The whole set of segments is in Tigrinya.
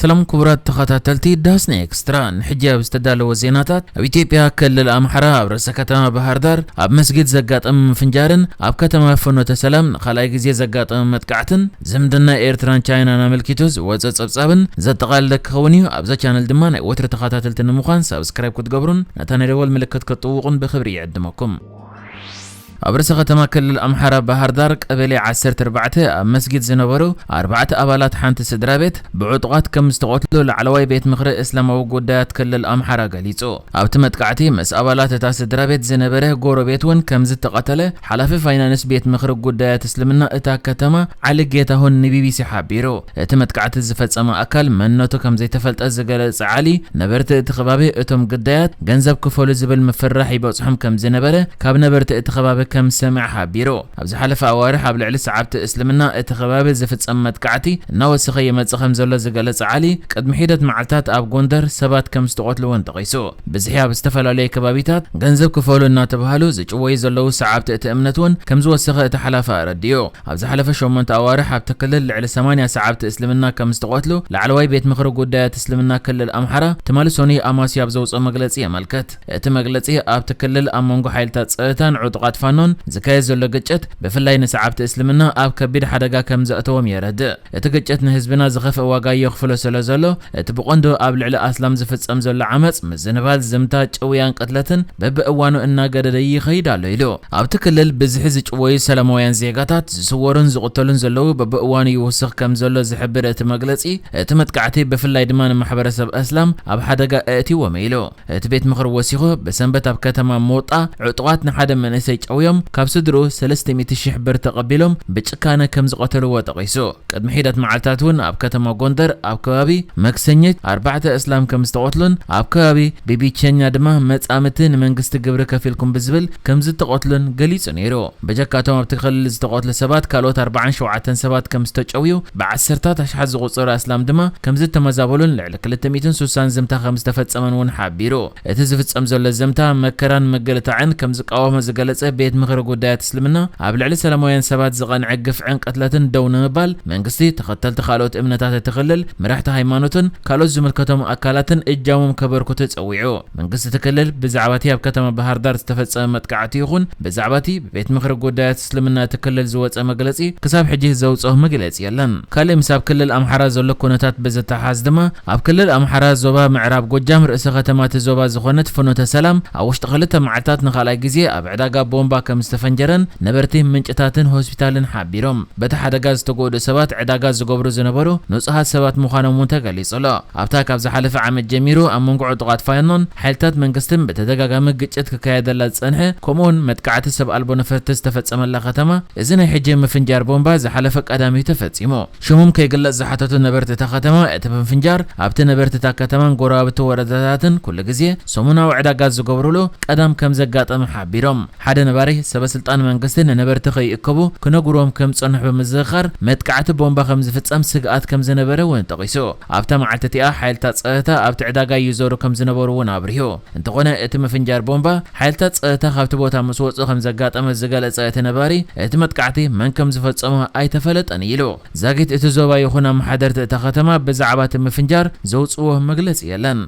ሰላም ክቡራት ተኸታተልቲ ዳስና ኤክስትራ፣ ንሕጂ ኣብ ዝተዳለወ ዜናታት፣ ኣብ ኢትዮጵያ ክልል ኣምሓራ ኣብ ርእሰ ከተማ ባህርዳር ኣብ መስጊድ ዘጋጠመ ምፍንጃርን ኣብ ከተማ ፍኖተ ሰላም ንኻልኣይ ግዜ ዘጋጠመ መጥቃዕትን ዝምድና ኤርትራን ቻይናን ኣመልኪቱ ዝወጸ ጸብጻብን ዘጠቓለለ ክኸውን እዩ። ኣብዛ ቻነል ድማ ናይ ወትሪ ተኸታተልቲ ንምዃን ሳብስክራይብ ክትገብሩን ነታ ናይ ደወል ምልክት ክትጥውቑን ብኽብሪ ይዕድመኩም። ኣብ ርእሰ ከተማ ክልል ኣምሓራ ባህርዳር ቀበሌ ዓሰርተ ኣርባዕተ ኣብ መስጊድ ዝነበሩ ኣርባዕተ ኣባላት ሓንቲ ስድራቤት ብዕጡቓት ከም ዝተቐትሉ ላዕለዋይ ቤት ምኽሪ እስላማዊ ጉዳያት ክልል ኣምሓራ ገሊጹ። ኣብቲ መጥቃዕቲ ምስ ኣባላት እታ ስድራቤት ዝነበረ ጎረቤት'ውን ከም ዝተቐተለ ሓላፊ ፋይናንስ ቤት ምኽሪ ጉዳያት እስልምና እታ ከተማ ዓሊ ጌታሁን ንቢቢሲ ሓቢሩ። እቲ መጥቃዕቲ ዝፈጸመ ኣካል መንነቱ ከም ዘይተፈልጠ ዝገለጸ ዓሊ፣ ነበርቲ እቲ ከባቢ እቶም ግዳያት ገንዘብ ክፈሉ ዝብል ምፍርራሕ ይበጽሖም ከም ዝነበረ ካብ ነበርቲ እቲ ከባቢ ከም ዝሰምዐ ሓቢሩ። ኣብ ዝሓለፈ ኣዋርሕ ኣብ ልዕሊ ሰዓብቲ እስልምና እቲ ከባቢ ዝፍጸም መጥቃዕቲ እናወሰኸ ይመጽእ ከም ዘሎ ዝገለጸ ዓሊ፣ ቅድሚ ሒደት መዓልታት ኣብ ጎንደር ሰባት ከም ዝተቐትሉ እውን ጠቒሱ። ብዝሒ ኣብ ዝተፈላለዩ ከባቢታት ገንዘብ ክፈሉ እናተብሃሉ ዝጭወዩ ዘለዉ ሰዓብቲ እቲ እምነት እውን ከም ዝወሰኸ እቲ ሓላፊ ኣረዲኡ። ኣብ ዝሓለፈ ሸሞንተ ኣዋርሕ ኣብቲ ክልል ልዕሊ ሰማንያ ሰዓብቲ እስልምና ከም ዝተቐትሉ ላዕለዋይ ቤት ምኽሪ ጉዳያት እስልምና ክልል ኣምሓራ ትማሊ ሶኑይ ኣማስያ ኣብ ዘውጽኦ መግለጺ የመልከት። እቲ መግለጺ ኣብቲ ክልል ኣብ መንጎ ሓይልታት ጸጥታን ዕጡቓት ፋኖን ዝካየድ ዘሎ ግጭት ብፍላይ ንሰዓብቲ እስልምና ኣብ ከቢድ ሓደጋ ከም ዘእተዎም የረድእ። እቲ ግጭት ንህዝብና ዝኸፍእ ዋጋ የኽፍሎ ሰለ ዘሎ፣ እቲ ብቐንዱ ኣብ ልዕሊ ኣስላም ዝፍጸም ዘሎ ዓመጽ፣ ምዝንባል፣ ዝምታ፣ ጭውያን ቅትለትን በብእዋኑ እናገደደ ይኸይድ ኣሎ ኢሉ። ኣብቲ ክልል ብዝሒ ዝጭወዩ ሰላማውያን ዜጋታት፣ ዝስወሩን ዝቕተሉን ዘለዉ በብእዋኑ ይውስኽ ከም ዘሎ ዝሕብር እቲ መግለጺ፣ እቲ መጥቃዕቲ ብፍላይ ድማ ንማሕበረሰብ ኣስላም ኣብ ሓደጋ ኣእትይዎም ኢሉ። እቲ ቤት ምኽሪ ወሲኹ፣ ብሰንበት ኣብ ከተማ ሞጣ ዕጡቓት ንሓደ መንእሰይ ጨውዮም ካብ ስድርኡ ሰለስተ ሚእቲ ሽሕ ብር ተቐቢሎም ብጭካነ ከም ዝቐተልዎ ጠቒሱ። ቅድሚ ሒደት መዓልታት እውን ኣብ ከተማ ጎንደር ኣብ ከባቢ መክሰኝት ኣርባዕተ እስላም ከም ዝተቐትሉን ኣብ ከባቢ ቢቢቸኛ ድማ መጻምድቲ ንመንግስቲ ግብሪ ከፊልኩም ብዝብል ከም ዝተቐትሉን ገሊጹ ነይሩ። በጀካ እቶም ኣብቲ ክልል ዝተቐትሉ ሰባት ካልኦት ኣርባዓን ሸውዓተን ሰባት ከም ዝተጨውዩ ብዓሰርታት ኣሽሓት ዝቑጸሩ ኣስላም ድማ ከም ዝተመዛበሉን ክልተ ሚእትን ስሳን ዘምታ ከም ዝተፈጸመን እውን ሓቢሩ። እቲ ዝፍጸም ዘሎ ዘምታ፣ መከራን ምግልታዕን ከም ዝቃወሞ ዝገለጸ ቤት ምኽሪ ጉዳያት እስልምና፣ ኣብ ልዕሊ ሰላማውያን ሰባት ዝቐንዐ ግፍዕን ቅትለትን ደው ንምባል መንግስቲ፣ ተኸተልቲ ካልኦት እምነታት እቲ ክልል፣ መራሕቲ ሃይማኖትን ካልኦት ዝምልከቶም ኣካላትን እጃሞም ከበርክቱ ጸዊዑ። መንግስቲ እቲ ክልል ብዛዕባ እቲ ኣብ ከተማ ባህርዳር ዝተፈጸመ መጥቃዕቲ ይኹን ብዛዕባ እቲ ብቤት ምኽሪ ጉዳያት እስልምና እቲ ክልል ዝወጸ መግለጺ ክሳብ ሕጂ ዘውጽኦ መግለጺ የለን። ካልእ ምስ ኣብ ክልል ኣምሓራ ዘሎ ኩነታት ብዝተሓሓዝ ድማ ኣብ ክልል ኣምሓራ ዞባ ምዕራብ ጎጃም ርእሰ ከተማ እቲ ዞባ ዝኾነት ፍኖተ ሰላም ኣብ ውሽጢ ክልተ መዓልታት ንኻልኣይ ግዜ ኣብ ዕዳጋ ቦምባ ከምዝተፈንጀረን ነበርቲ፣ ምንጭታትን ሆስፒታልን ሓቢሮም። በቲ ሓደጋ ዝተጎድኡ ሰባት ዕዳጋ ዝገብሩ ዝነበሩ ንጹሃት ሰባት ምዃኖም እውን ተገሊጹ'ሎ። ኣብታ ካብ ዝሓለፈ ዓመት ጀሚሩ ኣብ መንጎ ዕጡቓት ፋኖን ሓይልታት መንግስትን ብተደጋጋሚ ግጭት ክካየደላ ዝጸንሐ ከምኡ'ውን መጥቃዕቲ ሰብ ኣልቦ ነፈርቲ ዝተፈጸመላ ከተማ እዚ ናይ ሕጂ ምፍንጃር ቦምባ ዝሓለፈ ቀዳም'ዩ ተፈጺሙ። ሽሞም ከይግለጽ ዝሓተቱ ነበርቲ እታ ከተማ እቲ ምፍንጃር ኣብቲ ነበርቲ እታ ከተማን ጎረባብቲ ወረዳታትን ኩሉ ግዜ ሰሙናዊ ዕዳጋ ዝገብሩሉ ቀዳም ከምዘጋጠመ ሓቢሮም። ሓደ ነባሪ፣ ሰበስልጣን መንግስቲ ንነበርቲ ከይእከቡ ክነግሩዎም ከም ዝጸንሑ ብምዝኽኻር፣ መጥቃዕቲ ቦምባ ከም ዝፍጸም ስግኣት ከም ዝነበረ እውን ጠቒሱ። ኣብታ መዓልቲ እቲኣ፣ ሓይልታት ጸጥታ ኣብቲ ዕዳጋ ይዞሩ ከም ዝነበሩ እውን ኣብሪሁ። እንተዀነ፣ እቲ ምፍንጃር ቦምባ፣ ሓይልታት ጸጥታ ካብቲ ቦታ ምስ ወጹ ከም ዘጋጠመ ዝገለጸ እቲ ነባሪ፣ እቲ መጥቃዕቲ መን ከም ዝፈጸሞ ኣይተፈለጠን ኢሉ። ዛጊት እቲ ዞባ ይኹን ኣመሓደርቲ እታ ከተማ ብዛዕባ እቲ ምፍንጃር ዘውጽእዎ መግለጺ የለን።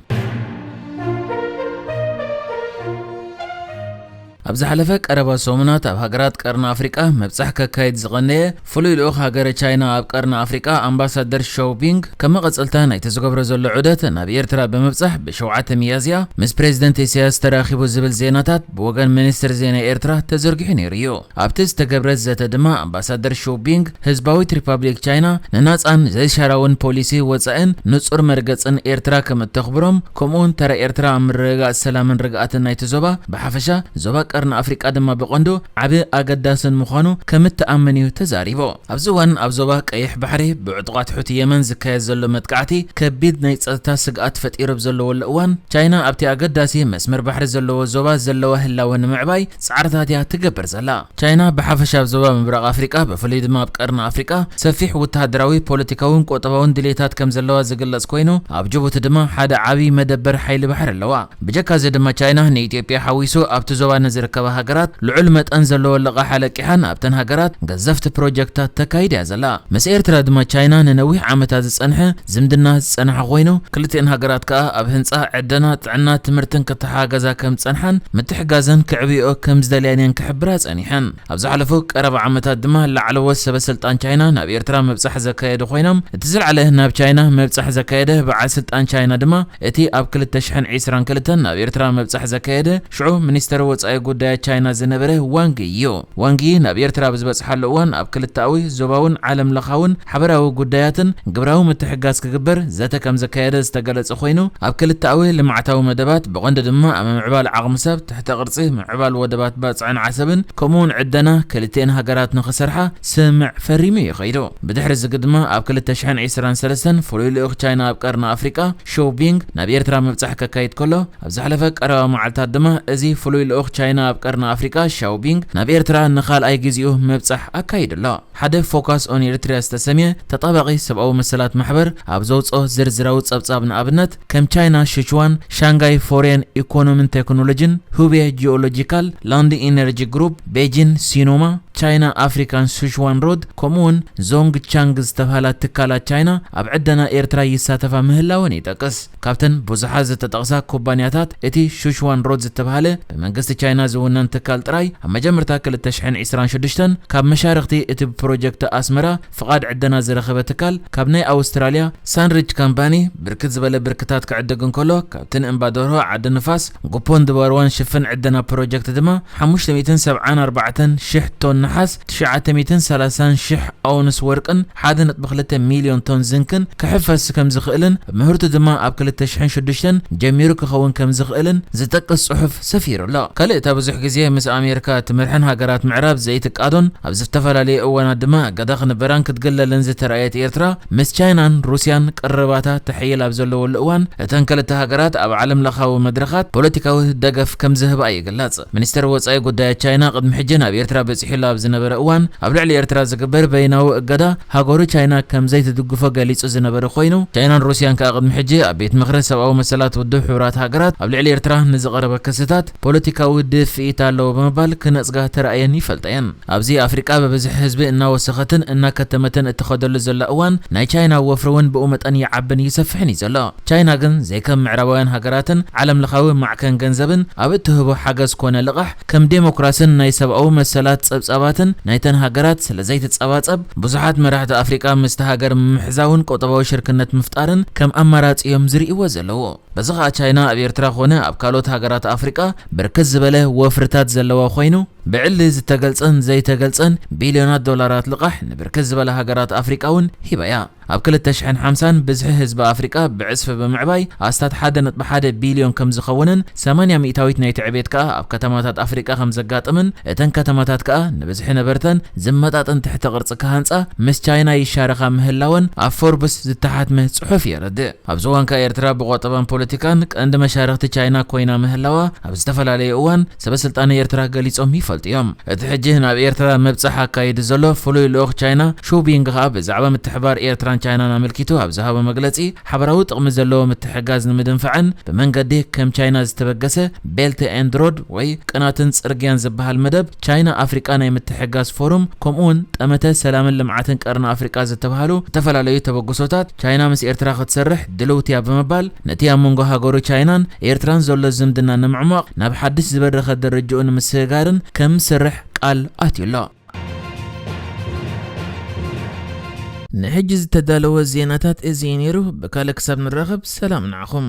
ኣብ ዝሓለፈ ቀረባ ሰሙናት ኣብ ሃገራት ቀርኒ ኣፍሪቃ ምብጻሕ ከካይድ ዝቐነየ ፍሉይ ልኡኽ ሃገረ ቻይና ኣብ ቀርኒ ኣፍሪቃ ኣምባሳደር ሾው ቢንግ ከም መቐጸልታ ናይቲ ዝገብሮ ዘሎ ዑደት ናብ ኤርትራ ብምብጻሕ ብሸውዓተ ሚያዝያ ምስ ፕሬዚደንት ኢሳያስ ተራኺቡ ዝብል ዜናታት ብወገን ሚኒስትሪ ዜና ኤርትራ ተዘርጊሑ ነይሩ እዩ። ኣብቲ ዝተገብረ ዘተ ድማ ኣምባሳደር ሾው ቢንግ ህዝባዊት ሪፓብሊክ ቻይና ንናጻን ዘይሻራዊን ፖሊሲ ወጻኢን ንጹር መርገጽን ኤርትራ ከም እተኽብሮም ከምኡ'ውን ተራ ኤርትራ ኣብ ምርግጋጽ ሰላምን ርግኣትን ናይቲ ዞባ ብሓፈሻ ዞባ ቀርኒ ኣፍሪቃ ድማ ብቐንዱ ዓቢ ኣገዳስን ምዃኑ ከም እትኣምን እዩ ተዛሪቡ። ኣብዚ እዋን ኣብ ዞባ ቀይሕ ባሕሪ ብዕጡቓት ሑቲ የመን ዝካየድ ዘሎ መጥቃዕቲ ከቢድ ናይ ጸጥታ ስግኣት ፈጢሩ ኣብ ዘለወሉ እዋን ቻይና ኣብቲ ኣገዳሲ መስመር ባሕሪ ዘለዎ ዞባ ዘለዋ ህላወ ንምዕባይ ጻዕርታት እያ እትገብር ዘላ። ቻይና ብሓፈሻ ኣብ ዞባ ምብራቕ ኣፍሪቃ ብፍሉይ ድማ ኣብ ቀርኒ ኣፍሪቃ ሰፊሕ ወተሃደራዊ፣ ፖለቲካውን ቁጠባውን ድልየታት ከም ዘለዋ ዝግለጽ ኮይኑ፣ ኣብ ጅቡቲ ድማ ሓደ ዓቢ መደበር ሓይሊ ባሕሪ ኣለዋ። ብጀካ እዚ ድማ ቻይና ንኢትዮጵያ ሓዊሱ ኣብቲ ዞባ ንዝርከባ ሃገራት ልዑል መጠን ዘለዎ ልቓሕ ኣለቂሓን ኣብተን ሃገራት ገዘፍቲ ፕሮጀክትታት ተካይድ እያ ዘላ። ምስ ኤርትራ ድማ ቻይና ንነዊሕ ዓመታት ዝጸንሐ ዝምድና ዝጸንሐ ኮይኑ፣ ክልቲኤን ሃገራት ከኣ ኣብ ህንጻ፣ ዕደና፣ ጥዕና፣ ትምህርትን ክተሓጋገዛ ከም ዝጸንሓን ምትሕግጋዘን ከዕብይኦ ከም ዝደልያን እየን ክሕብራ ጸኒሐን። ኣብ ዝሓለፉ ቀረባ ዓመታት ድማ ላዕለዎት ሰበስልጣን ቻይና ናብ ኤርትራ ምብጻሕ ዘካየዱ ኮይኖም፣ እቲ ዝልዓለ ናብ ቻይና ምብጻሕ ዘካየደ በዓል ስልጣን ቻይና ድማ እቲ ኣብ ክልተ ሽሕን ዒስራን ክልተን ናብ ኤርትራ ምብጻሕ ዘካየደ ሽዑ ሚኒስተር ወጻኢ ጉዳያት ቻይና ዝነበረ ዋንግ ዪ እዩ። ዋንግ ዪ ናብ ኤርትራ ብዝበጽሓሉ እዋን ኣብ ክልተኣዊ፣ ዞባውን ዓለም ለኻውን ሓበራዊ ጉዳያትን ግብራዊ ምትሕግጋዝ ክግበር ዘተ ከም ዘካየደ ዝተገለጸ ኮይኑ ኣብ ክልተኣዊ ልምዓታዊ መደባት ብቐንዱ ድማ ኣብ ምምዕባል ዓቕሚ ሰብ፣ ትሕተ ቅርጺ፣ ምምዕባል ወደባት ባጽዕን ዓሰብን ከምኡ'ውን ዕደና ክልቲኤን ሃገራት ንኽሰርሓ ስምምዕ ፈሪሙ እዩ ከይዱ። ብድሕሪ እዚ ግድማ ኣብ ክልተ ሽሕን ዒስራን ሰለስተን ፍሉይ ልኡኽ ቻይና ኣብ ቀርኒ ኣፍሪቃ ሾው ቢንግ ናብ ኤርትራ ምብጻሕ ከካይድ ከሎ፣ ኣብ ዝሓለፈ ቀረባ መዓልታት ድማ እዚ ፍሉይ ልኡኽ ቻይና ኣብ ቀርኒ ኣፍሪቃ ሻው ቢንግ ናብ ኤርትራ ንካልኣይ ግዚኡ ምብጻሕ ኣካይዱ ኣሎ። ሓደ ፎካስ ኦን ኤሪትሪያ ዝተሰምየ ተጣባቒ ሰብኣዊ መሰላት ማሕበር ኣብ ዘውጽኦ ዝርዝራዊ ጸብጻብ ንኣብነት ከም ቻይና ሽቹዋን፣ ሻንጋይ ፎርየን ኢኮኖምን ቴክኖሎጂን፣ ሁቤ ጂኦሎጂካል፣ ላንዲ ኢነርጂ ግሩፕ፣ ቤጂን ሲኖማ፣ ቻይና ኣፍሪካን ሱቹዋን ሮድ ከምኡ'ውን ዞንግ ቻንግ ዝተብሃላ ትካላት ቻይና ኣብ ዕደና ኤርትራ ይሳተፋ ምህላወን ይጠቅስ። ካብተን ብዙሓት ዝተጠቕሳ ኩባንያታት፣ እቲ ሹሽዋን ሮድ ዝተብሃለ ብመንግስቲ ቻይና ዝውነን ትካል ጥራይ፣ ኣብ መጀመርታ ክልተ ሽሕን ዒስራን ሽዱሽተን ካብ መሻርኽቲ እቲ ብፕሮጀክት ኣስመራ ፍቓድ ዕደና ዝረኸበ ትካል ካብ ናይ ኣውስትራልያ ሳንሪጅ ካምፓኒ ብርክት ዝበለ ብርክታት ክዕድግ እንከሎ፣ ካብቲ ንእምባ ደርሆ፣ ዓዲ ንፋስ፣ ጉፖን ድባርዋን ሽፍን ዕደና ፕሮጀክት ድማ ሓሙሽተ ሚእትን ሰብዓን ኣርባዕተን ሽሕ ቶን ነሓስ፣ ትሽዓተ ሚእትን ሰላሳን ሽሕ ኣውንስ ወርቅን፣ ሓደ ነጥቢ ክልተ ሚልዮን ቶን ዝንክን ክሕፈስ ከምዝኽእልን ምህርቱ ድማ ኣብ ክልተ ሽሕን ሽዱሽተን ጀሚሩ ክኸውን ከምዝኽእልን ዝጠቅስ ጽሑፍ ሰፊሩ ኣሎ። ካልእ እታ ብዙሕ ግዜ ምስ ኣሜርካ እትመርሐን ሃገራት ምዕራብ ዘይትቃዶን ኣብ ዝፍተፈላለየ እዋናት ድማ እገዳ ክንበራን ክትግለልን ዝተራእየት ኤርትራ ምስ ቻይናን ሩስያን ቅርርባታ ተሕይል ኣብ ዘለወሉ እዋን እተን ክልተ ሃገራት ኣብ ዓለምለኻዊ መድረኻት ፖለቲካዊ ደገፍ ከምዝህባ ይግለጽ። ሚኒስተር ወጻኢ ጉዳያት ቻይና ቅድሚ ሕጂ ናብ ኤርትራ በጺሑሉ ኣብ ዝነበረ እዋን፣ ኣብ ልዕሊ ኤርትራ ዝግበር በይናዊ እገዳ፣ ሃገሩ ቻይና ከም ዘይትድግፎ ገሊጹ ዝነበረ ኮይኑ፣ ቻይናን ሩስያን ከኣ ቅድሚ ሕጂ ኣብ ቤት ምኽሪ ሰብኣዊ መሰላት ውድብ ሕቡራት ሃገራት ኣብ ልዕሊ ኤርትራ ንዝቐረበ ክስታት ፖለቲካዊ ድፍኢት ኣለዎ ብምባል ክነጽጋ ተራእየን ይፈልጣ እየን። ኣብዚ ኣፍሪቃ ብብዝሒ ህዝቢ እናወሰኸትን እናከተመትን እትኸደሉ ዘላ እዋን፣ ናይ ቻይና ወፍሪ እውን ብኡ መጠን ይዓብን ይሰፍሕን እዩ ዘሎ። ቻይና ግን ዘይከም ምዕራባውያን ሃገራትን ዓለምለኻዊ ማዕከን ገንዘብን ኣብ እትህቦ ሓገዝ ኮነ ልቓሕ ከም ዴሞክራስን ናይ ሰብኣዊ መሰላት ጸብጻባትን ናይተን ሃገራት ስለዘይትጸባጸብ ብዙሓት መራሕቲ ኣፍሪቃ ምስታ ሃገር ምምሕዛውን ቁጠባዊ ሽርክነት ምፍጣርን ከም ኣማራጺ እዮም ዝርእይዎ ዘለዉ። በዚ ኸኣ ቻይና ኣብ ኤርትራ ኮነ ኣብ ካልኦት ሃገራት ኣፍሪቃ ብርክት ዝበለ ወፍርታት ዘለዋ ኮይኑ፣ ብዕሊ ዝተገልጸን ዘይተገልጸን ቢልዮናት ዶላራት ልቓሕ ንብርክት ዝበላ ሃገራት ኣፍሪቃ እውን ሂባ እያ። ኣብ ክልተ ሽሕን ሓምሳን ብዝሒ ህዝቢ ኣፍሪቃ ብዕጽፊ ብምዕባይ ኣስታት ሓደ ነጥቢ ሓደ ቢልዮን ከም ዝኸውንን ሰማንያ ሚእታዊት ናይቲ ዕቤት ከኣ ኣብ ከተማታት ኣፍሪቃ ከም ዘጋጥምን እተን ከተማታት ከኣ ንብዝሒ ነበርተን ዝመጣጠን ትሕተ ቅርጺ ክሃንጻ ምስ ቻይና ይሻረኻ ምህላወን ኣብ ፎርብስ ዝተሓትመ ጽሑፍ የረድእ። ኣብዚ እዋን ከኣ ኤርትራ ብቆጠባን ፖለቲካን ቀንዲ መሻርኽቲ ቻይና ኮይና ምህላዋ ኣብ ዝተፈላለየ እዋን ሰበስልጣን ኤርትራ ገሊጾም ይፈልጡ እዮም። እቲ ሕጂ ናብ ኤርትራ ምብጻሕ ኣካይዱ ዘሎ ፍሉይ ልኡኽ ቻይና ሹ ቢንግ ከኣ ብዛዕባ ምትሕብባር ኤርትራን ቻይናን ኣመልኪቱ ኣብ ዝሃቦ መግለጺ ሓበራዊ ጥቕሚ ዘለዎ ምትሕግጋዝ ንምድንፋዕን ብመንገዲ ከም ቻይና ዝተበገሰ ቤልት ኤንድ ሮድ ወይ ቅናትን ጽርግያን ዝበሃል መደብ ቻይና ኣፍሪቃ ናይ ምትሕግጋዝ ፎሩም ከምኡ'ውን ጠመተ ሰላምን ልምዓትን ቀርኒ ኣፍሪቃ ዝተብሃሉ ዝተፈላለዩ ተበግሶታት ቻይና ምስ ኤርትራ ክትሰርሕ ድልውቲ እያ ብምባል ነቲ ኣብ መንጎ ሃገሩ ቻይናን ኤርትራን ዘሎ ዝምድና ንምዕሟቕ ናብ ሓድሽ ዝበረኸ ደረጅኡ ንምስግጋርን ከም ዝሰርሕ ቃል ኣትዩ ኣሎ። ንሕጂ ዝተዳለወ ዜናታት እዚ እዩ ነይሩ፣ ብካልእ ክሳብ ንራኸብ ሰላም ንዓኹም።